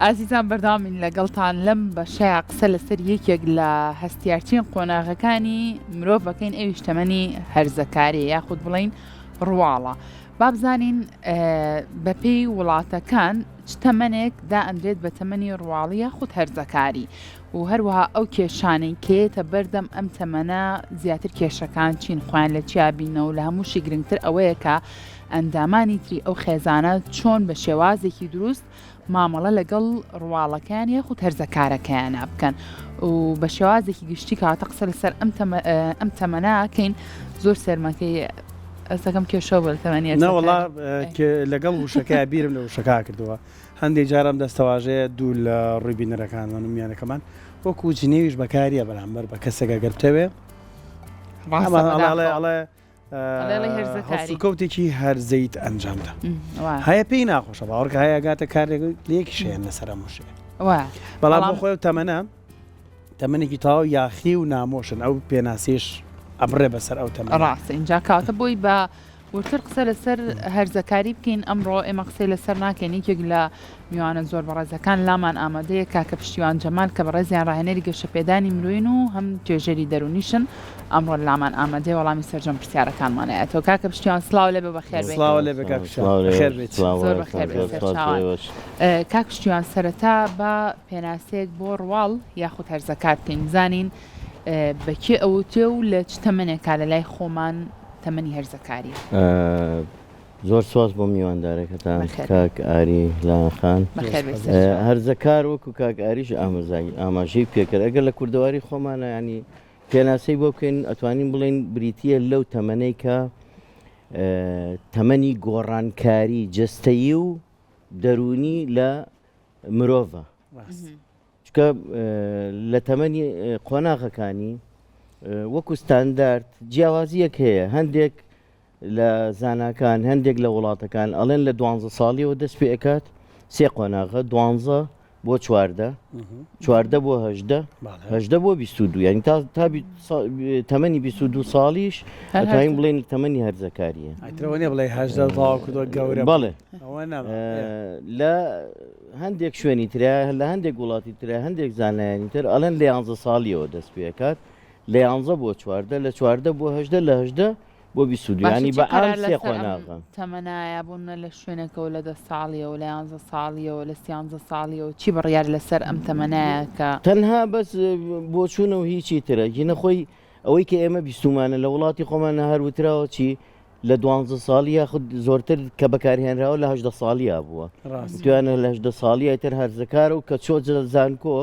ئازیزان بەردەوامین لەگەڵتان لەم بەشەیا قسە لەسەر یەکێک لە هەستیارترین قۆناغەکانی مرۆڤ بەکەین ئەویش تەمەنی هەرزەکاری یاخود بڵین ڕواڵە بابزانین بەپێی وڵاتەکان چ تەمەنێک دا ئەندرێت بە تەمەنی ڕواڵی یاخود هەرزەکاری و هەروەها ئەو کێشانەی کێتە بەردەم ئەم تەمەە زیاتر کێشەکان چین خۆیان لە چیابینەوە لە هەمووشی گرنگتر ئەوەیە کە ئەندامانی تری ئەو خێزانە چۆن بە شێوازێکی دروست مامەڵە لەگەڵ ڕواڵەکەیان یاخود هەرزەکارەکەیانە بکەن و بە شێوازێکی گشتی کاتە قسە لەسەر ئەم تەمەناکەین زۆر سەرمەکەی ئەسەکەم کێشە بەر تەمەنیە ناوەڵا لەگەڵ وشەکە بیرم لە وشەکە کردەوە هەندێک جارم دەستەواژەیە دوو لە ڕووی بینەرەکانمان و میانەکەمان وەکو جنێویش بەکاریە بەرامبەر بە کەسێکە گەرتەوێ ڕاڵێ هەڵسوکەوتێکی هەرزەیت ئەنجامدا هەیە پێی ناخۆشە باوەڕکە هەیەگاتە کارێک لەیەکی شێن لەسەر مشێ بەڵام خۆی تەمەە تەمەێکی تاو یاخی و نامۆشن ئەو پێناسیش ئەبڕێ بەسەر ئەو تەمە ڕاست اینجا کاتە بۆی بە وتر قسە لەسەر هەرزەکاری بکەین ئەمڕۆ ئێمە قسەی لەسەر ناکەین یەکێک لە میوانە زۆر بەڕێزەکان لامان ئامادەیە کاکە پشتیوان جەمال کە بەڕێزیان ڕاهێنەری گەشەپێدانی مرۆین و هەم توێژەری دەروونیشن ئەمڕۆ لامان ئامادەیە وەڵامی سەرجەم پرسیارەکانمان ئەیاتەوە کاکە پشتیوان سڵاو لێبێ بەخێر بێیت سڵاو لێبێ کاک پشتیوان سڵاو لێبێ بەخێر بێیت سڵاو زۆر بەخێر بەڕێزەکان بێیت زۆر سپاس سەرچاوان بۆ ئێوەش اه، کاک پشتیوان سەرەتا با پێناسەیەک بۆ ڕواڵ یاخود هەرزەکار بکەین بزانین اه، بە کێ ئەوتێ و لە چ تەمەنێکا لە لای خۆمان تەمەنی هەرزەکاریە؟ ئە، زۆر سوپاس بۆ میواندارەکەتان کاک ئاری لایەن خان هەرزەکار وەکو کاک ئاریش ئامزای ئاماژەی پێکرد ئەگەر لە کوردەواری خۆمانە ینی پێناسەی بۆ بکەین ئەتوانین بڵین بریتە لەو تەمەەی کە تەمەنی گۆڕانکاری جستەیی و دەرونی لە مرۆڤە چونکە لە تەمەنی قۆناغەکانی وەکو ستاندارد جیاوازیەک هەیە هەندێک لە زانکان هەندێک لە وڵاتەکان ئەڵێن لە دوانزە ساڵیەوە دەست پێ ئەکات سێ قۆناغە دوانزە بۆ چواردە چواردە بۆ هەژدە هەژدە بۆ بیست و دو ینی تا تا تەمەنی بیست و دو ساڵیش ئەتوانین بڵێن تەمەنی هەرزەکاریە بڵێ هەژدە تاوا کردوە گەورە بڵێ لە هەندێک شوێنی ترە لە هەندێک وڵاتی ترە هەندێک زانایانی تر ئەلەند لە یانزە ساڵیەوە دەست پێکات لە یانزە بۆ چواردە لە چواردە بۆ هەشدە لە هەشدە بۆ بیسودیانی بە ئەمسێخۆناغن تەمەنایە بوونە لە شوێنەکەەوە لە دە ساڵیەوە لە یانزە ساڵیەوە لە سیانزە ساڵیەوە چی بڕیار لەسەر ئەم تەمەنایەکە تەنها بەس بۆچوونە و هیچی ترە گینە خۆی ئەوەی کە ئێمە بیستمانە لە وڵاتی خۆمانە هەروتراوە چی لە دوانزە ساڵی یاخود زۆرتر کە بەکارهێنراوە لە هەدە ساڵیا بووە دویانە لە هەدە ساڵی ئەتر هەرزەکارە و کە چۆ زانکۆ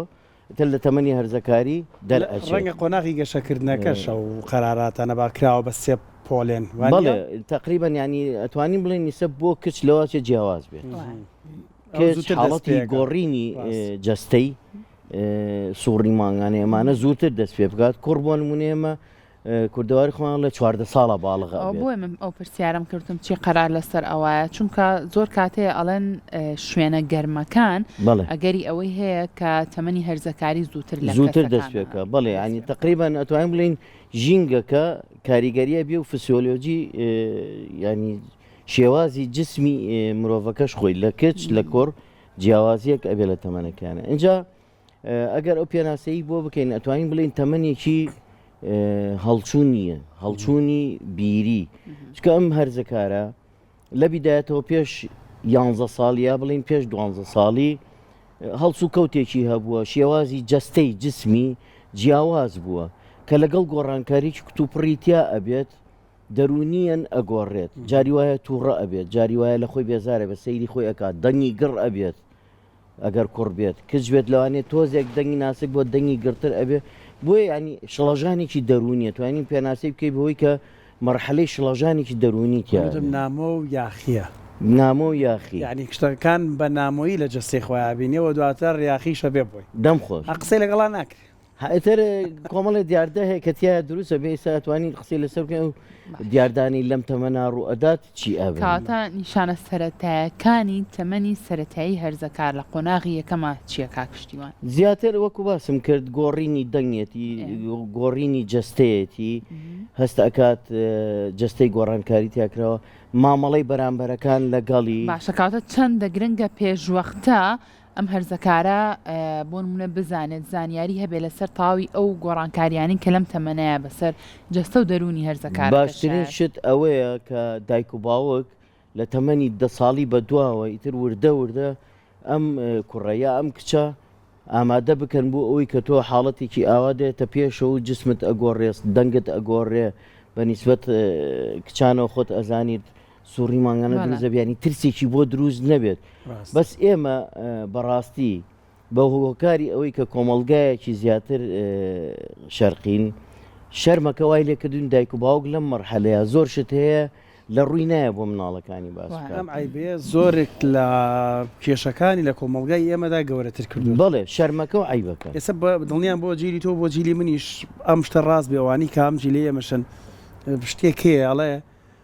تر لە تەمەنی هەرزەکاری دەر ڕەنگە قۆناغی گەشەکردنەکەشە و قەراراتانە باکراوە بە سێ پۆلێن بەڵێ تقریبان ینی ئەتوانین بڵێن نیسە بۆ کچ لەواچێ جیاواز بێت حاڵەتی گۆڕینی جەستەی سوڕی مانگانە ئەمانە زووتر دەست پێ بکات کوڕ بۆ نمونێمە کوردەواری خۆیان لە چواردە ساڵە باڵغە ئەو بۆیە من ئەو پرسیارم کردم چی قەرار لەسەر ئەوایە چونکە زۆر کاتەیە ئەڵێن شوێنە گەرمەکان ئەگەری ئەوەی هەیە کە تەمەنی هەرزەکاری زووتر لە زووتر دەستێکە بڵێ ینی تقریبان ئەتوانین بڵین ژینگەکە کاریگەریە بێ و فسیۆلۆجی ینی شێوازی جسمی مرۆڤەکەش خۆی لە کچ لە کۆڕ جیاوازیەک ئەبێ لە تەمەنەکانە اینجا ئەگەر ئەو پێناسەی بۆ بکەین ئەتوانین بڵین تەمەنێکی هەڵچوو نییە هەڵچوونی بیری چکە ئەم هەرزەکارە لە بیدایەتەوە پێش یانزە ساڵی یا بڵین پێش دوانزە ساڵی هەڵسو کەوتێکی هەبووە شێوازی جەستەی جسمی جیاواز بووە کە لەگەڵ گۆڕانکاریی کتوپڕیتیا ئەبێت دەرونیەن ئەگۆڕێت جاری وایە تووڕە ئەبێت جاری وایە لە خۆی بێزارە بە سەیری خۆی ئەکات دەنگی گڕ ئەبێت ئەگەر کوڕ بێت کچ بێت لەوانێ تۆزێک دەنگی ناسک بۆ دەنگی گرتر ئەبێ بۆیە ینی شڵەژانێکی دەرونیە توانین پێناسی بکەی بەوەی کە مەرحەلەی شڵەژانێکی دەرونی تیا نامۆ و یاخیە نامۆ و یاخی ینی کشتەکان بە نامۆیی لە جەستەی خۆیان بینێ و دواتر یاخیشە بێ بۆی دەم خۆش قسەی لەگەڵا ناکرێ. ئیتر کۆمەڵێ دیاردە هەیە کە تایە دروستە بێ ساتوانین قسەی لەسەر بکەین و دیاردانی لەم تەمەنا ڕوئەدات چی ئەبێ کەواتە نیشانە سەرەتایەکانی تەمەنی سەرەتایی هەرزەکار لە قۆناغی یەکەما چییە کاک پشتیوان؟ زیاتر وەکو باسم کرد گۆڕینی دەنگێتی گۆڕینی جەستەیەتی هەست ئەکات جەستەی گۆڕانکاری تیاکراوە مامەڵەی بەرامبەرەکان لەگەڵی باشە کاتە چەندە گرنگە پێشوەختە ئەم هەرزەکارە بۆ نمونە بزانێت زانیاری هەبێ لەسەر تەواوی ئەو گۆڕانکاریانەی کە لەم تەمەنەیە بەسەر جەستە و دەروونی هەرزەکار باشترین شت ئەوەیە کە دایک و باوک لە تەمەنی دە ساڵی بە دواوە ئیتر وردە وردە ئەم کوڕە یا ئەم کچە ئامادە بکەن بۆ ئەوی کە تۆ حاڵەتێکی ئاوا دێتە پێشە و جسمت ئەگۆڕێست دەنگت ئەگۆڕێ بە نیسبەت کچانەوە خۆت ئەزانیت سوڕی مانگانە دروست دەبێت ینی ترسێکی بۆ دروست نەبێت بەس ئێمە بەڕاستی بە هۆکاری ئەوەی کە کۆمەلگایەکی زیاتر شەرقین شەرمەکە وای لێکردون دایک و باوک لەم مەرحەلەیە زۆر شت هەیە لە ڕووی نایە بۆ مناڵەکانی باس ئایبێ زۆرێک لە کێشەکانی لە کۆمەلگای ئێمەدا گەورەتر کردو بڵێ شەرمەکە و عیبەکە ئێستا دڵنیان بۆ جیلی تۆ بۆ جیلی منیش ئەم شتە ڕاست بێوانی کام جیلی ئێمەشن شتێکەیە ئەڵێ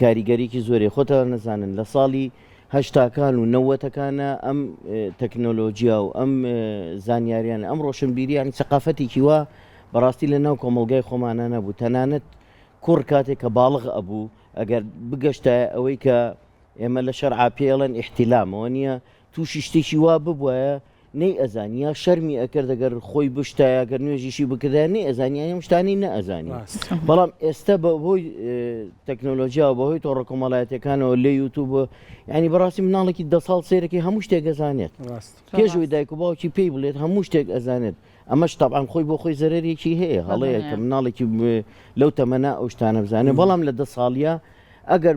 کاریگەریکی زۆری خۆتان نەزانن لە ساڵی هەشتاکان و نەوەتەکانە ئەم تەکنۆلۆژیا و ئەم زانیاریان ئەم ڕۆشنبیریان سەقافەتێکی وە بەڕاستی لە ناو کۆمەلگای خۆمانە نەبوو تەنانەت کوڕ کاتێک کە باڵغ ئەبوو ئەگەر بگەشتە ئەوەی کە ئێمە لە شەرعا پێڵێن ئیحتیلامەوە نییە تووشی شتێکی وا ببووە نەی ئەزانی یا شەرمی ئەکرد دەگەر خۆی بشتایە گەر نوێژیشی بکردە نەی ئەزانانی ئەم شتانی نەئەزانی بەڵام ئێستا بە هۆی تەکنۆلۆژیا و بەهۆی تۆڕە کۆمەڵایەتەکانەوە لێ یوتوب ینی بەڕاستی مناڵێکی دە ساڵ سێرەکی هەموو شتێک ئەزانێت پێشوی دایک و باوکی پێی بڵێت هەموو شتێک ئەزانێت ئەمە شتابان خۆی بۆ خۆی زەرەرێکی هەیە هەڵەیە کە مناڵێکی لەو تەمەنا ئەو شتانە بزانێت بەڵام لە دە ساڵە ئەگەر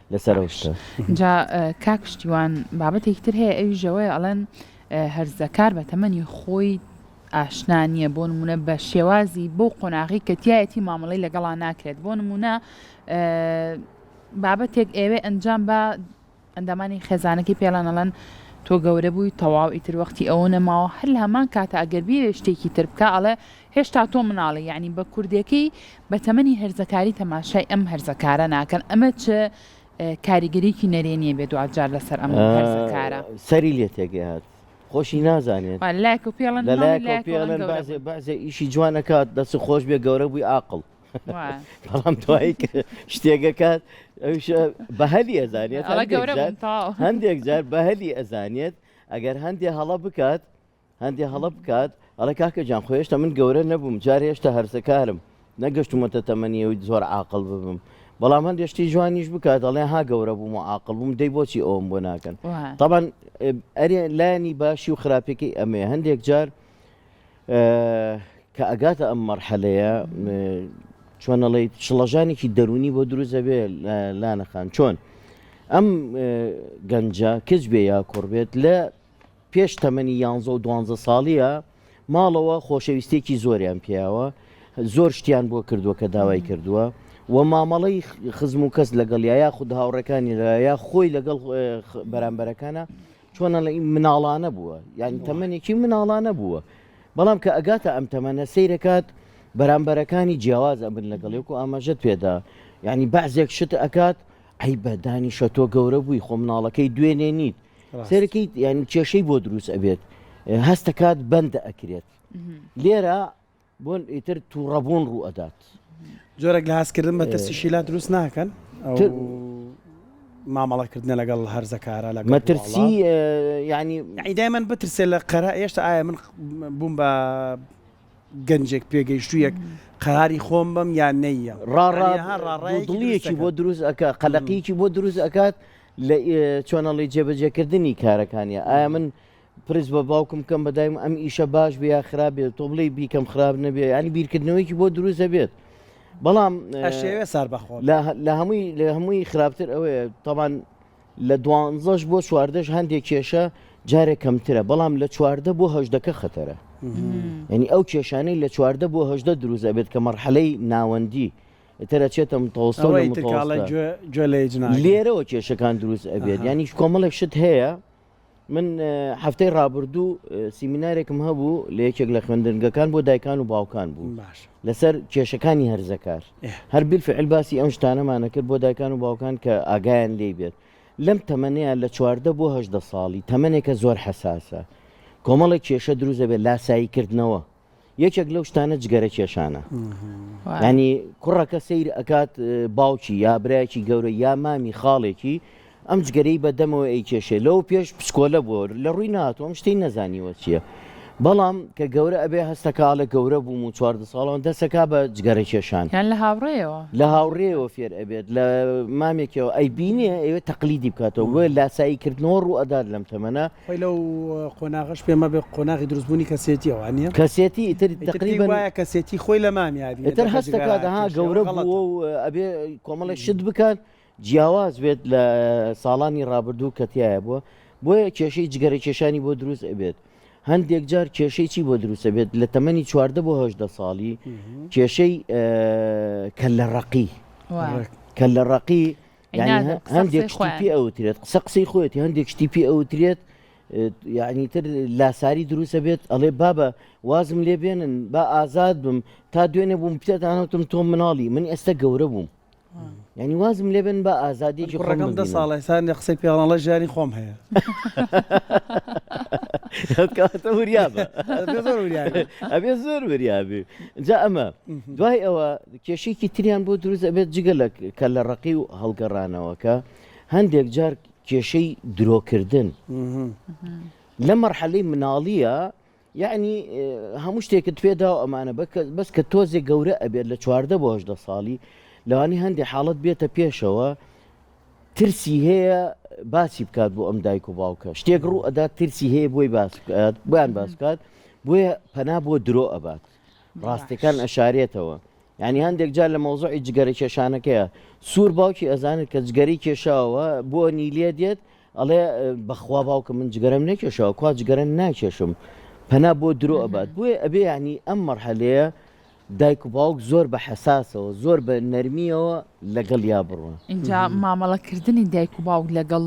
لەسەر ئەو شتە. جا کاک پشتیوان بابەتێکی تر هەیە ئەویش ئەوەیە ئەڵێن هەرزەکار بە تەمەنی خۆی ئاشنا نییە بۆ نمونە بە شێوازی بۆ قۆناغی کە تایەتی مامەڵی لەگەڵا ناکرێت بۆ نمونە بابەتێک ئێوێ ئەنجام بە ئەندامانی خێزانەکەی پێڵانەڵەن تۆ گەورە بووی تەواو ئیتر وەختی ئەوە نەماوە هەر لە هەمان کاتە ئەگەر بیێ شتێکی تر بکە ئەڵێ هێشتا تۆ مناڵی یانی بە کوردێکەی بە تەمەنی هەرزەکاری تەماشای ئەم هەرزەکارە ناکەن ئەمە چ کاریگەریکی نەرێنیە بێ دوجار لەسەر ئەم هەرزەکارە سەری لێ تێگەی هات خۆشی نازانێت لایک و پێڵن بەزێ ئیشی جوانەکات دەس خۆش بێ گەورە بووی ئاقل بەڵام توایی شتێگەکات بەهلی ئەزانێت هەندێک جار بەهلی ئەزانێت ئەگەر هەندێ هەڵە بکات هەندێ هەڵە بکات ئەڵێ کاکە جان خۆ هێشتا من گەورە نەبووم جار هێشتا هەرزەکارم نەگەشتومەتە تەمەنی و زۆر عقل ببم بەڵام هەندێ شتی جوانیش بکات دەڵێ ها گەورە بووم و عقل بووم دەی بۆچی ئەوم بۆ ناکەن طبعاان ئەرێ لایەنی باشی و خراپێکی ئەمێ هەندێک جار کە ئەگاتە ئەم مەرحەلەیە چۆنەڵی شڵەژانێکی دەرونی بۆ دروست دەبێ لانەخان چۆن؟ ئەم گەنجە کچ بێ یا کوڕ بێت لە پێش تەمەنی یانزە و دوانزە ساڵیە ماڵەوە خۆشەویستێکی زۆریان پیاوە زۆر شتیان بۆ کردووە کە داوای کردووە و مامەڵەی خزم و کەس لەگەڵ یا یا خود هاوڕەکانی لە یا خۆی لەگەڵ بەرامبەرەکانە چۆنە لە مناڵانە بووە یعنی تەمەێکی مناڵانە بووە بەڵام کە ئەگاتە ئەم تەمەە سیرەکات بەرامبەرەکانی جیاواز ئەبن لەگەڵێک و ئاماژەت پێدا یعنی بەعزێک شت ئەکات ئەی بەدانی شەتۆ گەورە بووی خۆ مناڵەکەی دوێنێ نیت سەیرەکەیت یعنی کێشەی بۆ دروست ئەبێت هەستەکات بەندە ئەکرێت لێرە بۆن ئیتر تووڕەبوون ڕوو ئەدات جۆرەك لە هەستکردن بە ترسی شیلا دروست ناکەن مامەڵەکردنە لەگەڵ هەرزەکارە لە مەترسی ینی ئیدای من بترسێ لە قەرە ئێشتا ئایا من بووم بە گەنجێک پێگەیشتوویەک قەراری خۆم بم یان نەیە ڕاڕاڕاڕایەکی بۆ دروست ئەکە قەلەقیی بۆ دروست ئەکات لە چۆنەڵی جێبەجێکردنی کارەکانیە ئایا من پرس بە باوکم کەم بەدایم ئەم ئیشە باش بێ یا خراپ بێت تۆ بڵی بیکەم خراپ نەبێ ینی بیرکردنەوەیکی بۆ دروست دەبێت بەڵام ئەشێوێ سار بەخۆ لە هەمووی لە هەمووی خراپتر ئەوەیە تاوان لە دوانزەش بۆ چواردەش هەندێک کێشە جارێک کەمترە بەڵام لە چواردە بۆ هەشدەکە خەتەرە ینی ئەو کێشانەی لە چواردە بۆ هەشدە دروزە بێت کە مەرحەلەی ناوەندی ئیتر ئەچێتە متەوەسەت و ئەوەی تر کاڵێ متەوەستە. گوێ گوێ لە هیچ ناگرێ. لێرەوە کێشەکان دروست ئەبێت ئەها. یانی کۆمەڵێک شت هەیە من اه، هەفتەی ڕابردوو اه، سیمینارێکم هەبوو لە یەکێک لە خوێندنگەکان بۆ دایکان و باوکان بوو باشە. لەسەر کێشەکانی هەرزەکار ئه. هەر بیلفعل باسی ئەم شتانەمانە کرد بۆ دایکان و باوکان کە ئاگایان لێی بێت لەم تەمەنەیا لە چواردە بۆ هەژدە ساڵی تەمەنێکە زۆر حەساسە کۆمەڵێک کێشە دروست ئەبێت لاسایی کردنەوە یەکێک لەو شتانە جگەرە کێشانە ینی کوڕەکە سیر ئەکات باوکی یا برایکی گەورە یا مامی خاڵێکی ئەم جگەرەی بەدەمەوە ئەی کێشێ لەو پێش پسکۆلە بووە لە ڕووی ناتۆم شتین نەزانیوە چییە بەڵام کە گەورە ئەبێ هەستەکاڵە گەورە بووم و چواردە ساڵان دەسەکە بە جگەرە کێشان لە هاوڕێەوە لە هاوڕێەوە فێر ئەبێت لە مامێکەوە ئەی بینێ ئەوێ تەقلیدی بکاتەوە بۆ لاسایی کردنەوە ڕوو ئەدات لەم تەمەە خۆی لەو قۆناغەش پێ مەبێ قۆناغی دروست بوونی کەسێتی ئەوان نیە؟ کەسێتی ئیتر تەقریبەن ئیتر پێی وایە کەسێتی خۆی لە مامیە ئەبینێ ئیتر هەست دەکات ها گەورە بووە و ئەبێ کۆمەڵێک شت بکات جیاواز بێت لە ساڵانی ڕابردوو کە تایە بووە بۆیە کێشەی جگەرە کێشانی بۆ دروست ئەبێت هەندێک جار کێشەی چی بۆ دروستە بێت لە تەمەنی چواردە بۆ هەشدە ساڵی کێشەی کە لە ڕقی کە لە ڕقی هەندێک شتی پێ ئەوترێت قسە قسەی خۆێتی هەندێک شتی پێ ئەوترێت یعنی تر لاساری دروستە بێت ئەڵێ بابە وازم لێ بێنن با ئازاد بم تا دوێنێ بووم پێتانەوتم تۆ مناڵی من ئێستا گەورە بووم ینی وازم لێ بن بە ئازادیێکی ڕەگەم دە ساڵی سان لە قسەی پێڵەڵە ژیانی خۆم هەیە ئەبێ زۆر وریابێ جا ئەمە دوای ئەوە کێشەیەکی تریان بۆ دروست ئەبێت جگە لە کەللە ڕەقی و هەڵگەڕانەوە کە هەندێک جار کێشەی درۆکردن لە مەرحەلەی مناڵیە یعنی هەموو شتێکت پێدا و ئەمانە بەس کە تۆزێک گەورە ئەبێت لە چواردە بۆ هەشدە ساڵی لەوانی هەندێک حاڵت بێتە پێشەوە ترسی هەیە باسی بکات بۆ ئەم دایک و باوکە شتێک ڕوو ئەدا ترسی هەیە بۆی باس بکات بۆیان باس بکات بۆیە پەنا بۆ درۆ ئەبات ڕاستیەکان ئەشارێتەوە ینی هەندێک جار لە مۆزۆی جگەرە کێشانەکەیە سوور باوکی ئەزانێت کە جگەری کێشاوە بۆ نیلێ دێت ئەڵێ بەخوا باوکە من جگەرم نەکێشەوە کوا جگەرە ناکێشم پەنا بۆ درۆ ئەبات بۆیە ئەبێ ینی ئەم مەرحەلەیە دایک و باوک زۆر بە حساسەوە زۆر بە نەرمیەوە لەگەڵ یا بڕوە اینجا مامەڵەکردنی دایک و باوک لەگەڵ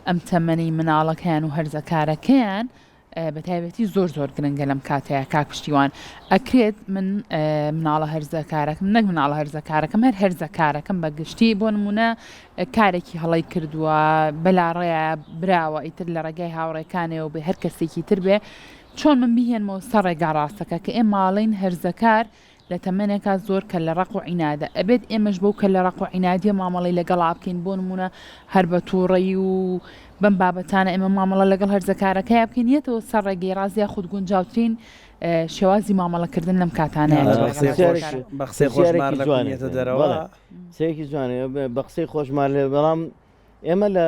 ئەم تەمەنی مناڵەکەیان و هەرزەکارەکەیان بەتایبەتی زۆر زۆر گرنگە لەم کاتەیە کاک پشتیوان ئەکرێت من مناڵە هەرزەکارەکەم نەک مناڵە هەرزەکارەکەم هەر هەرزەکارەکەم بە گشتی بۆ نمونە کارێکی هەڵی کردووە بەلاڕێە براوە ئیتر لە ڕێگای هاوڕێکانەوە بێ هەر کەسێکی تر بێ چۆن من بهێنمەوە سەر ڕێگا ڕاستەکە کە ئێ ماڵین هەرزەکار لە تەمەنێکا زۆر کەللە ڕەق و عینادە، ئەبێت ئێمەش بەو کەللە ڕەق و عینادیە مامەڵەی لەگەڵا بکەین، بۆ نموونە هەر بە تووڕەیی و بەم بابەتانە ئێمە مامەڵە لەگەڵ هەرزەکارەکەیا بکەین یەتەوە سەر ڕێگەی ڕاست یاخود گونجاوترین شێوازی مامەڵەکردن لەم کاتانەیە لەگەڵ هەرزەکار. بە قسەی خۆش مار لە کونی یەتە دەرەوە. قسەیەکی جوانە بە قسەی خۆش مار لە بەڵام ئێمە لە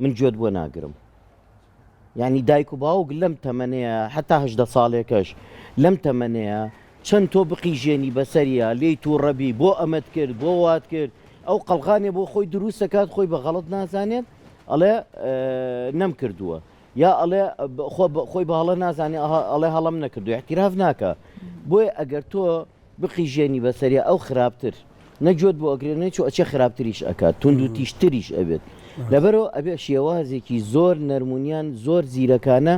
من گوێت بۆ ناگرم یعنی دایک و باوک لەم تەمەنەیە حتا هەدە ساڵێکەش لەم تەمەنەیە چەند تۆ بقیژێنی بەسەریا لێی تو ڕەبی بۆ ئەمەت کرد بۆ وات کرد ئەو قەلغانێ بۆ خۆی دروستەکات خۆی بە غەڵت نازانێت ئەڵێ نەم کردووە یا ئەڵێ خۆی بەهڵە نازانێ ئەڵێ هەڵم نەکردو احتیراف ناکە بۆیە ئەگەر تۆ بقیژێنی بەسەریا ئەو خراپتر نە گوێت بۆ ئەگرێ نە چۆ ئەچێ خراپتریش ئەکات توندوتیژ تریش ئەبێت لەبەرەوە ئەبێ شێوازێکی زۆر نەرمونیان زۆر زیرەکانە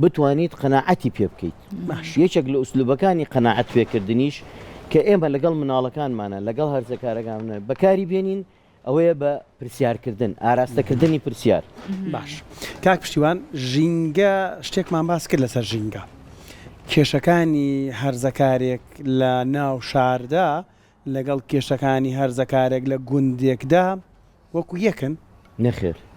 بتوانیت قەنەعەتی پێ بکەیت باش یەکێک لە ئوسلوبەکانی قەنەعەت پێکردنیش کە ئێمە لەگەڵ مناڵەکانمانە لەگەڵ هەرزەکارەکانە بەکاری بێنین ئەوەیە بە پرسیار کردن ئاراستە کردنی پرسیار. باش کاک پشتیوان ژینگە شتێکمان باس کرد لەسەر ژینگە کێشەکانی هەرزەکارێک لە ناو شاردا لەگەڵ کێشەکانی هەرزەکارێک لە گوندێکدا وەکو یەکن؟ نەخێر.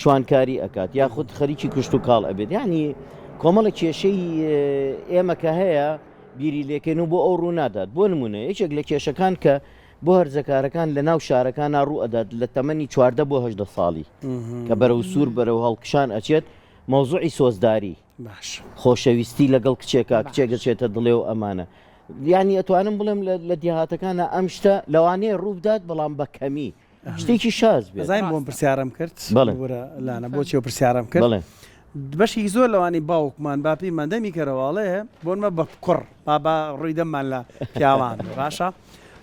شوانکاری ئەکات یاخود خەریکی کوشت و کاڵ ئەبێت یعنی کۆمەڵە کێشەی ئێمە کە هەیە بیری لێکەن و بۆ ئەو ڕوو نادات بۆ نمونە یەکێک لە کێشەکان کە بۆ هەرزەکارەکان لە ناو شارەکان ناڕوو ئەدات لە تەمەنی چواردە بۆ هەدە ساڵی کە بەرەو سوور بەرەو هەڵکشان ئەچێت مەوزوعی سۆزداری خۆشەویستی لەگەڵ کچێکا کچێک دەچێتە دڵێ و ئەمانە یانی ئەتوانم بڵێم لە دیهاتەکانە ئەم شتە لەوانەیە ڕووبدات بەڵام بە کەمی شتێکی شاز بێت. زانیم بۆم پرسیارم کرد بەڵێ. وەرە لانە بۆچی و پرسیارم کرد بەڵێ. بەشێکی زۆر لەوانەی باوکمان با پێیمان دەمی کەرەوە ئەڵێ بۆن مە بە کوڕ با با ڕووی دەممان لە پیاوان بێ باشە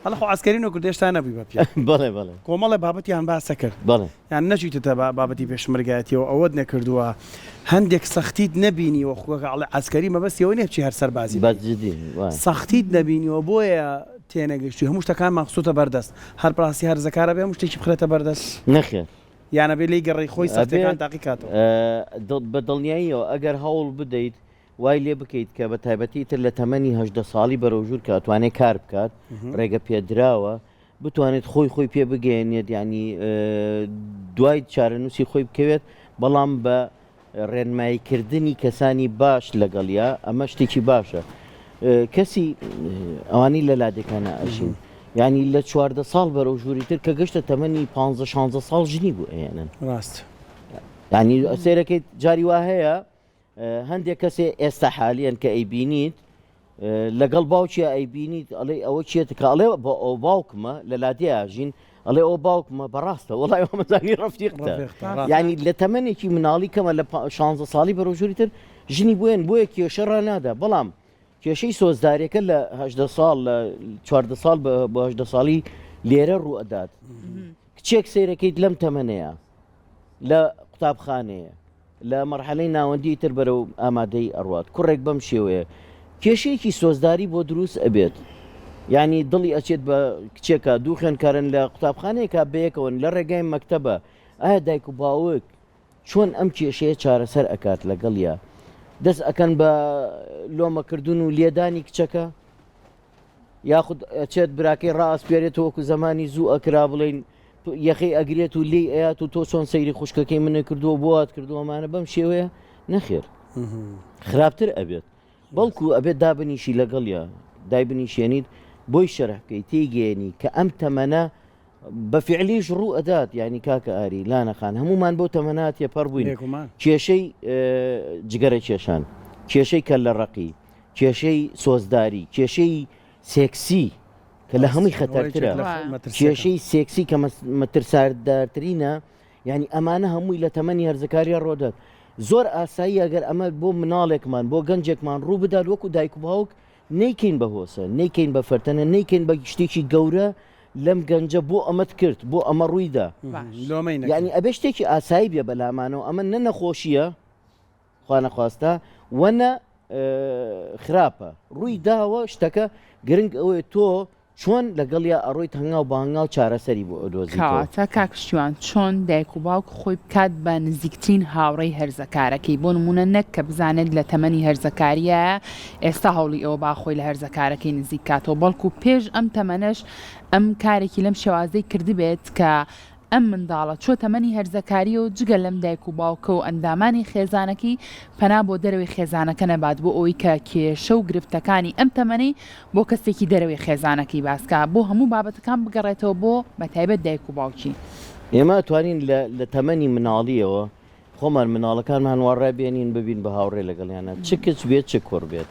هەڵە خۆ عەسکەرین و کوردێش تا نەبووی بە پیاو بەڵێ بەڵێ کۆمەڵێ بابەتیان باسە کرد بەڵێ یان نەچیتتە با بابەتی پێشمەرگایەتیەوە ئەوەت نەکردووە هەندێک سەختیت نەبینیوە خوەکە ئەڵێ عەسکەری مەبەستیەوە نیە بچی هەر سەربازی بەس جدی وایە. سەختیت نەبینیوە بۆیە تێنەگەیشتووی هەموو شتەکانمان خستۆتە بەردەست هەر بەڕاستی هەر رزەکار ئەبێ هەموو شتێکی بخرێتە بەردەست؟ نەخێر. یان ئەبێ لێی گەڕی خۆی سەختیەکان تاقی کاتەوە؟ ئەبێت بە دڵنیاییەوە ئەگەر هەوڵ بدەیت وای لێ بکەیت کە بە تایبەتی ئیتر لە تەمەنی هەژدە ساڵی بەرەو ژوور کە ئەتوانێت کار بکات رێگە پێدراوە بتوانێت خۆی خۆی پێ بگەیەنێت یانی دوای چارەنووسی خۆی بکەوێت بەڵام بە ڕێنماییکردنی کەسانی باش لەگەڵیا ئەمە شتێکی باشە کەسی ئەوانی لە لادێکانە ئەژین ینی لە چواردە ساڵ بەرەو ژووری تر کە گەشتە تەمەنی پ شانزە ساڵ ژنی بۆ ئەێنن ڕاست ینی ئەسێرەکەیت جاری وا هەیە هەندێک کەسێ ئێستا حالیان کە ئەیبینیت لەگەڵ باوکیا ئەیبینیت ئەڵێ ئەوە چێت کە ئەڵێ بۆ ئەو باوکمە لە لادێژین ئەڵێ ئەو باوکمە بەڕاستە وڵای ئەومەزانی ڕفتیقتە ینی لە تەمەێکی مناڵی کەمە لە 16 ساڵی بەرۆژوری تر ژنی بوێن بۆیە کێشە ڕنادا بەڵام کێشەی سۆزدارەکە لە هەدە ساڵ لە چواردە ساڵ بەهدە ساڵی لێرە ڕوو ئەدات کچێک سیرەکەیت لەم تەمەەیە لە قوتابخانەیە لە مەرحەلەی ناوەندی تر بەرەو ئامادەی ئەڕوات کوڕێک بەم شێوەیە کێشەیەکی سۆزداری بۆ دروست ئەبێت ینی دڵی ئەچێت بە کچێکە دوو خوێنکارن لە قوتابخانەیەکە بەیەکەوەن لە ڕێگای مەکتتەبە ئایا دایک و باوک چۆن ئەم کێشەیە چارەسەر ئەکات لەگەڵە دەست ئەکەن بە لۆمەکردن و لێدانی کچەکە یاخود ئەچێت براکەی ڕاستپێرێتەوە وەکو زمانی زوو ئەکرا بڵین یەخی ئەگرێت و لی ئەات و تۆ چۆن سەیری خوشکەکەی منە کردووە بۆات کردووەمانە بەم شێوەیە نەخێر خراپتر ئەبێت بەڵکو ئەبێت دابنیشی لەگەڵە دای بنیشێنیت بۆی شەرحکەی تێگەێنی کە ئەم تەمەە بە فعلیش ڕوو ئەدات ینی کاکە ئاری لانەخان هەمومان بۆ تەمەنات تێپەڕ بووین کێشەی جگەرە کێشان کێشەی کە لە ڕقی کێشەی سۆزداری کێشەی سێکسی کە لە هەمووی خەتەرترە کێشەی سێکسی کە مەترساردارترینە یعنی ئەمانە هەمووی لە تەمەنی هەرزەکاریە ڕۆدەت زۆر ئاسایی ئەگەر ئەمە بۆ مناڵێکمان بۆ گەنجێکمان ڕوو بدات وەکو دایک و باوک نیکەین بە هۆسە نیکەین بە فەرتەنە نیکەین بە شتێکی گەورە لەم گەنجە بۆ ئەمەت کرد بۆ ئەمە ڕوویدا ینی ئەبێ شتێکی ئاسایی بێ بەلامانەوە ئەمە نە نەخۆشیە خوانەخواستە وەنە خراپە ڕووی داوە شتەکە گرنگ ئەوێ تۆ چۆن لەگەڵیا ئەڕۆیت هەنگاو بەهنگاو چارەسەری بۆ ئەدۆزیواتە کاکشتیوان چۆن دایک و باوک خۆی بکات بە نزیکترین هاوڕێی هەرزەکارەکەی بۆ نمونە نەک کە بزانێت لە تەمەنی هەرزەکاریە ئێستا هەوڵی ئەوە باخۆی لە هەرزەکارەکەی نزیکاتەوە بەڵکو پێش ئەم تەمەنەش ئەم کارێکی لەم شێوازەی کردبێت کە ئەم منداڵە چووە تەمەنی هەرزەکاریی و جگە لەم دایک و باوکە و ئەندامانی خێزانەکەی پەنا بۆ دەرەوەی خێزانەکە نەبات بۆ ئەوەی کە کێشە و گرفتەکانی ئەم تەمەنەی بۆ کەسێکی دەرەوەی خێزانەکەی باس کا بۆ هەموو بابەتەکان بگەڕێتەوە بۆ بە تایبەت دایک و باوکی. ئێمە ئەتوانین لە لە تەمەنی مناڵییەوە خۆمان مناڵەکانمان وا ڕابێنین ببین بە هاوڕێ لەگەڵیانا چ کچ بێت چ کوڕ بێت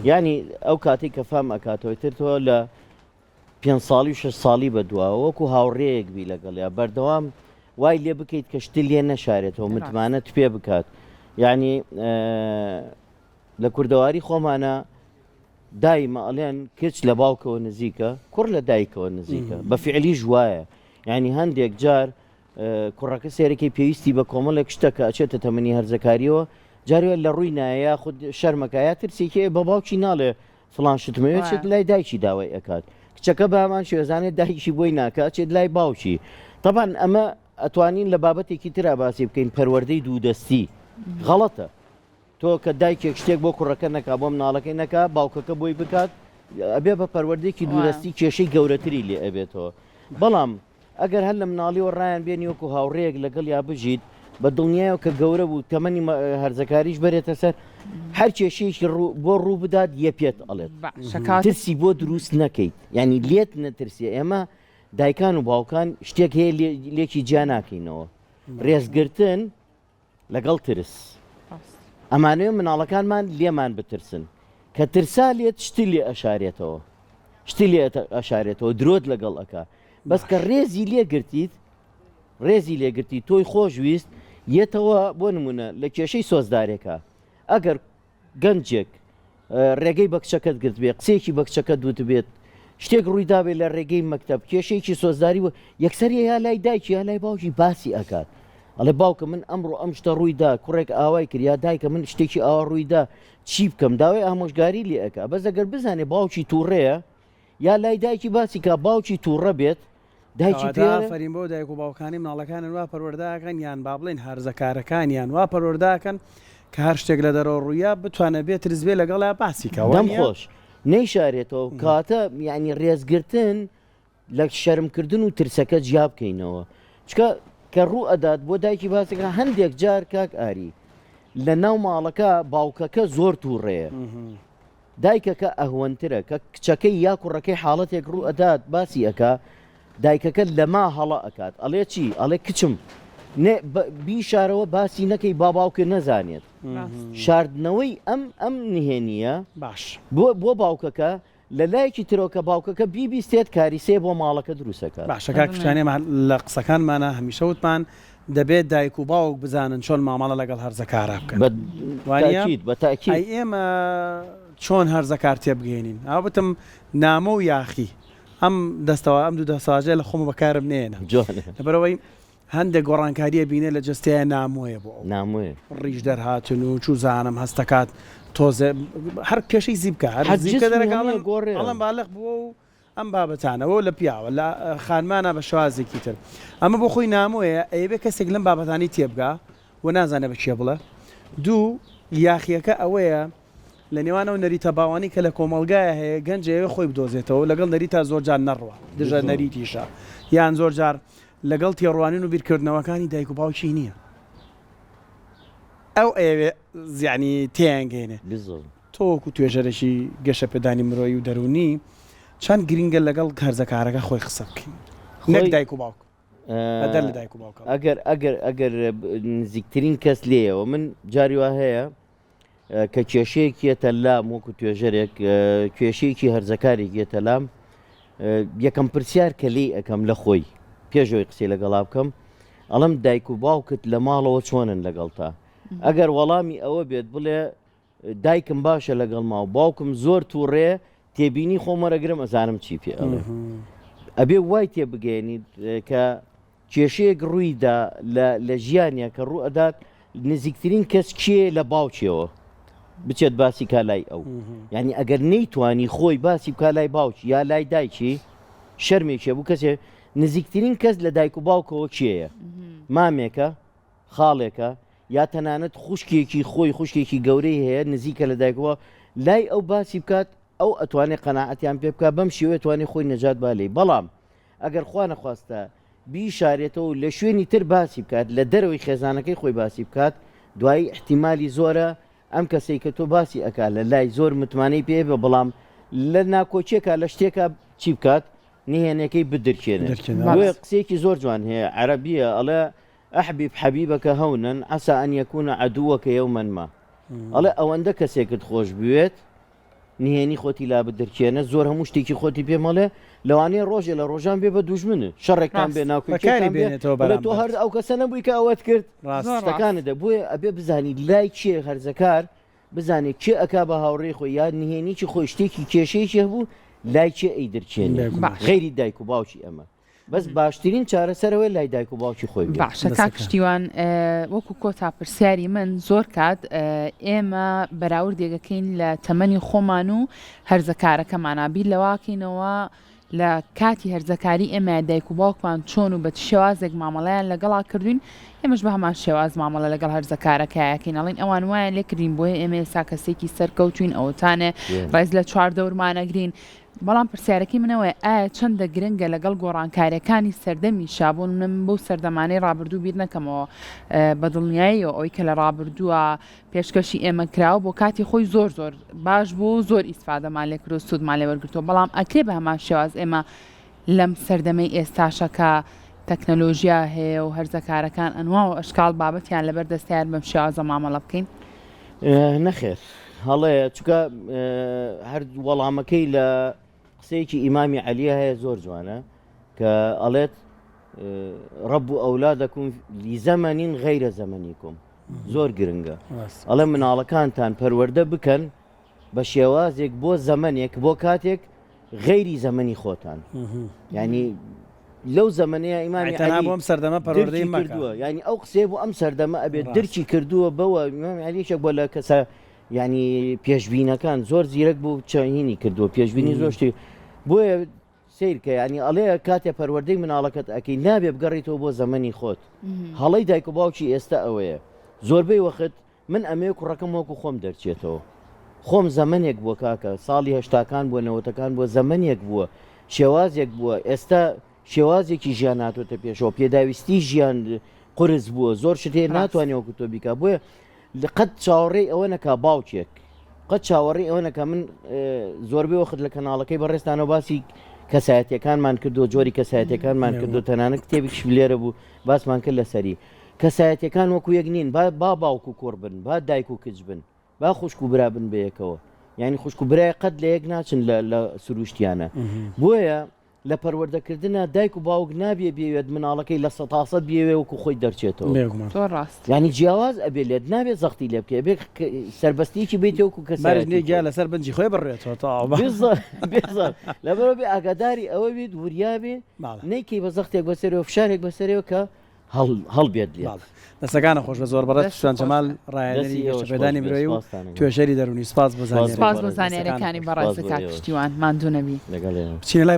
یانی ئەو کاتەی کە فام ئەکاتەوە ئیتر تۆ لە پێنج ساڵی و شەش ساڵی بە دواوە وەکو هاوڕێیەک بی لەگەڵیا بەردەوام وای لێ بکەیت کە شتی لێ نەشارێتەوە متمانەت پێ بکات یعنی لە کوردەواری خۆمانە دایمە ئەڵێن کچ لە باوکەوە نزیکە کوڕ لە دایکەوە نزیکە بە فعلی ژوایە ینی هەندێک جار کوڕەکە سەیرەکەی پێویستی بە کۆمەڵێک شتە کە ئەچێتە تەمەنی هەرزەکاریەوە جارێ لە ڕووی نایە یاخود شەرمەکە یا ترسێکی بە باوکی ناڵێ فلان شتمەوێت چێت لای دایکی داوای ئەکات کچەکە بامان شێزانێت دایکی بۆی ناکە چێت لای باوکی طبعاان ئەمە ئەتوانین لە بابەتێکی تررا باسی بکەین پەروەەردەی دوو دەستی غەڵەتە تۆ کە دایکێک شتێک بۆ کوڕەکە نەکا بۆم ناڵەکەی نەکا باوکەکە بۆی بکات ئەبێ بە پەروەردێکی دوورستی کێشەی گەورەتری لێ ئەبێتەوە بەڵام ئەگەر هەر لە مناڵیەوە ڕایان بێنی وەکو هاوڕێیەک لەگەڵیا بژیت بە دڵنیایەوە کە گەورە بوو تەمەنی هەرزەکاریش بەرێتە سەر هەر کێشەیەکی بۆ ڕوو بدات یە پێت ئەڵێت ترسی بۆ دروست نەکەیت ینی لێت نەترسێ ئێمە دایکان و باوکان شتێک هەیە لێکی جیا ناکەینەوە ڕێزگرتن لەگەڵ ترس ئەمانەوێ مناڵەکانمان لێمان بترسن کە ترسا لێت شتی لێ ئەشارێتەوە شتی لێ ئەشارێتەوە درۆت لەگەڵ ئەکا بەس کە ڕێزی لێ گرتیت ڕێزی لێگرتی تۆی خۆشویست یەتەوە بۆ نمونە لە کێشەی سۆزدارێکە ئەگەر گەنجێک ڕێگەی بە کچەکەت گرتبێت، قسەیەکی بە کچەکەت وتبێت، شتێک ڕوویدابێت لە ڕێگەی مەکتەب، کێشەیەکی سۆزداری و یەکسەر یا لای دایکی یا لای باوکی باسی ئەکات. ئەڵێ باوکم من ئەمڕۆ ئەم شتە ڕووی دا، کوڕێک ئاوای کرد یا دایکە من شتێکی ئاوا ڕووی دا چی بکەم؟ داوای ئامۆژگاری لێ ئەکات. بەس ئەگەر بزانێت باوکی تووڕەیە یا لای دایکی باسی کا باوکی تووڕە بێت، دایکی پێ ئافەرین بۆ دایک و باوکانی مناڵەکانن وا پەروەرداکەن یان با بڵێن هەرزەکارەکانیان وا پەروەرداکەن کە هەر شتێک لە دەرەوە ڕوویا بتوانە بێ ترزبێ لەگەڵا باسی کەوەم خۆش نەیشارێتەوە کاتە ینی ڕێزگرتن لە شەرمکردن و ترسەکە جیا بکەینەوە چکە کە ڕوو ئەدات بۆ دایکی باسەکە هەندێک جار کاک ئاری لە ناو ماڵەکە باوکەکە زۆر تووڕەیە دایکەکە ئەهوەنترە کە کچەکەی یا کوڕەکەی حاڵەتێک ڕوو ئەدات باسی ئەکا دایکەکە لەما هەڵە ئەکات ئەڵێ چی ئەڵێ کچم بیشارەوە باسی نەکەی باباوکە نەزانێت شاردنەوەی ئەم ئەم نهێنیە باش بۆ بۆ باوکەکە لە لایەکی ترۆکە باوکەکە بیبیستێت کاریسێ بۆ ماڵەکە دروستەکە باشەکە کچانێمان لە قسەکانمانە هەمیشە وتمان دەبێت دایک و باوک بزانن چۆن مامەڵە لەگەڵ هەرزەکارا بکەن بە وانیە؟ تاکید بە تاکید. ئەی ئێمە چۆن هەرزەکار تێبگەیەنین؟ ئەوە بتم نامۆ و یاخی ئەم دەستەوا ئەم دوو دەستەواژەیە لە خۆمە بەکارم نەیەنە جوانە. لەبەرئەوەی هەندێک گۆڕانکاریە بینە لە جەستەیا نامۆیە بۆ ئەو. نامۆیە. ڕیش دەرهاتن و چوزانم هەستەکات تۆزێ هەر کێشەی زیپکە هەر حەجز زیپکە دەرەکە نامۆیە ئەڵێم گۆڕێ. ئەڵێم بالغ بووە و ئەم بابەتانە وەو لە پیاوە لە خانمانە بە شێوازێکی تر ئەمە بۆ خۆی نامۆیە ئەیەوێ کەسێک لەم بابەتانی تێبگا و نازانێ بە کێ بڵێ دوو یاخیەکە ئەوەیە لە نێوان ئەو نەریتە باوانی کە لە کۆمەڵگایە هەیە گەنجەیە خۆی بدۆزێتەوە لەگەڵ نەریتا زۆر جار نەڕوە دژە نەریتیشە یان زۆر جار لەگەڵ تێڕوانین و بیرکردنەوەکانی دایک و باوکی نییە ئەو ئەوێ زیانی تێنگەێنێ تۆ وەکو توێژەرێکی گەشەپێدانی مرۆیی و دەروونی چەند گرینگە لەگەڵ هەرزەکارەکە خۆی قسە بکەین نەک دایک و باوک؟ بەدەر لە دایک و باوکەوە. ئەگەر ئەگەر ئەگەر نزیکترین کەس لێیەوە من جاری وا هەیە کە کێشەیەکی یەتە لام وەکو توێژەرێک کێشەیەکی هەرزەکارێک یەتە لام یەکەم پرسیار کە لی ئەەکەم لە خۆی پێشەوەی قسەی لەگەڵا بکەم ئەڵم دایک و باوکت لە ماڵەوە چۆنن لەگەڵتا ئەگەر وەڵامی ئەوە بێت بڵێ دایکم باشە لەگەڵ ما و باوکم زۆر تووڕێ تێبینی خۆم وەرەگرم ئەزانم چی پێ ئەڵێ ئەبێ وای تێ بگەێنیت کە کێشەیەک ڕوویدا لە ژیانە کە ڕوو ئەدات نزیکترین کەس کێ لە باوکیەوە بچێت باسی کالای ئەو ینی ئەگەر نەیتوانی خۆی باسی کالای باوکی یا لای دایکی شەرمێکێ بوو کەسێ نزیکترین کەس لە دایک و باوکەوە کێیە مامێکە خاڵێکە یا تەنانەت خوشکێکی خۆی خوشکێکی گەورەی هەیە نزیکە لە دایکەوە لای ئەو باسی بکات ئەو ئەتوانێت قەناعەتیان پێ بکات بەم شێوەیە توانێت خۆی نەجات با لێی بەڵام ئەگەر خوا نەخواستە بیشارێتەوە لە شوێنی تر باسی بکات لە دەرەوەی خێزانەکەی خۆی باسی بکات دوایی احتیممالی زۆرە ئەم کەسەی کە تۆ باسی ئەکا لە لای زۆر متمانەی پێ بە بەڵام لە ناکۆچیەکە لە شتێکە چی بکات نهێنەکەی بدرکێنێت قسێکی زۆر جوان هەیە عەربیە ئەڵێ احبب حبیبک هونا عسا ان یکون عدوک یوما ما ئەڵێ ئەوەندە کەسێکت خۆش بوێت نهێنی خۆتی لا بدرکێنە زۆر هەموو شتێکی خۆتی پێ مەڵێ لەوانەیە ڕۆژێ لە ڕۆژان بێ بە دوژمنت شەڕێکتان بێ ناوکەکاری بێنێتەوە بەلێ تۆ هەر ئەو کەسە نەبووی کە ئەوەت کرد ڕاستەکانە دە بۆیە ئەبێ بزانی لای چێ هەرزەکار بزانێت چێ ئەک بە هاوڕێ خۆی یاد نهێنیی خۆی شتێکی کێشەیەکی هەبوو لای چێ ئەی درچێن غێری دایک و باوکی ئەمە بەس باشترین چارەسەر ئەوەیە لای دایک و باوکی خۆی بێت. باشە کاک دەسەکە. شتیوان ئە، وەکو کۆتا پرسیاری من زۆر کات ئە، ئێمە بەراوردێک ئەکەین لە تەمەنی خۆمان و هەرزەکارەکەمانا بیر لەوەکەینەوە لە کاتی هەرزەکاری ئێمە دایک و باوکمان چۆن و بە چ شێوازێک مامەڵەیان لەگەڵا کردوین ئێمەش بە هەمان شێواز مامەڵە لەگەڵ هەرزەکارەکایەکەین ئەڵین ئەوان وایان لێکردین بۆیە ئێمە ئێستا کەسێکی سەرکەوتوین ئەوەتانێ ڕێز لە چواردەورمانەگرین بەڵام پرسیارەکەی من ئەوەیە ئایا چەندە گرنگە لەگەڵ گۆڕانکارییەکانی سەردەمی شا، بۆ نمونە من بەو سەردەمانەی ڕابردوو بیر نەکەمەوە، بە دڵنیاییەوە ئەوەی کە لە ڕابردووە پێشکەشی ئێمە کراوە بۆ کاتی خۆی زۆر زۆر باش بوو و زۆر ئیسفادەمان لێ کردووە و سوودمان لێ وەرگرتووە، بەڵام ئەکرێ بە هەمان شێواز ئێمە لەم سەردەمەی ئێستاشە کە تەکنەلۆژیا هەیە و هەرزە کارەکان ئەنواع و ئەشکاڵ بابەتیان لەبەر دەستە یار بەم شێوازە مامەڵە بکەین؟ نەخێر هەڵەیە چکە هەر وەڵامەکەی لە قسەیەکی ئیمامی عەلیە هەیە زۆر جوانە کە ئەڵێت ڕەب و ئەولا دەکوم لیزەمەنین غیرە زەمەنی کوم زۆر گرنگە ئەڵێ مناڵەکانتان پەروەەردە بکەن بە شێوازێک بۆ زەمنێک بۆ کاتێک غەیری زەمەنی خۆتان ینی لەو زەمنەیە ئیمانی تەنها بۆم سەردەمە پەرۆردەی مەکردووە ینی ئەو قسێ بۆ ئەم سەردەمە ئەبێت درکی کردووە بەوە علیشە بۆ لە کەسە ینی پێشببینەکان زۆر زیرەک بوو چاهینی کردووە پێشببینی زۆشتی بۆیە سیرکە ینی ئەڵێ کاتێ پەروەردەی مناڵەکەت ئەەکەی نابێ بگەڕیتەوە بۆ زەمەنی خۆت هەڵی دایک و باوکی ئێستا ئەوەیە زۆربەی وەخت من ئەمەوێ کوڕەکەم وەکو خۆم دەرچێتەوە خۆم زەمەنێک بووە کاکە ساڵی هەشتاکان بووە نەوەتەکان بووە زەمەنێک بووە شێوازێک بووە ئێستا شێوازێکی ژیان هاتۆتە پێشەوە پێداویستی ژیان قرس بووە زۆر شتێ ڕاست ناتوانێت وەکو تۆ بیکا بۆیە لە قەت چاوەڕێی ئەوە نەکا باوکێک قەت چاوەڕێی ئەوە نەکە من اه، زۆربەی وەخت لە کەناڵەکەی بەڕێستانەوە باسی کەسایەتەکانمان کردو جۆری کەسایەتەکانمان کردو تەنانەت کتێبیش لێرە بوو باسمان کرد لەسەری کەسایەتیەکان وەکو یەک نین با با باوک و کوڕ بن با دایک و کچ بن با خوشک و برا بن بەیەکەوە یانی خوشک و برای قەت لە یەک ناچن لە لە سروشتیانە بۆیە لە پەروەردە کردنا دایک و باوک نابێ بیەوێت مناڵەکەی لە سەد تا سەد بیەوێ وەکو خۆی دەرچێتەوە بێگومان زۆر ڕاست. یانی جیاواز ئەبێ لێت نابێ زەختی لێ بکەی ئەبێ ک سەربەستیەکی بیت وەکو بەرز نیە کەسایەتی گیا خۆی. لەسەر بنجی خۆی بڕوێتەوە تەواو بە بێزەح بێزەح لەبەرئەوەبێ ئاگاداری ئەوە بیت وریا بێ باڵە. نەیکەی بە زەختێک بەسەرێوە فشارێک بەسەرێوە کە هەڵبێت لێت. دەستەکانت خۆش بێت زۆر بەڕێز پشتیوان جەمال ڕاهێنەری گەشەپێدانی مرۆیی و توێژەری دەروونی سپاس بۆ زانیاریەکانت. سپاس بۆ زانیاریەکانی بەڕێزت کاک پشتیوان ماندوو نەبی. بچینە لای.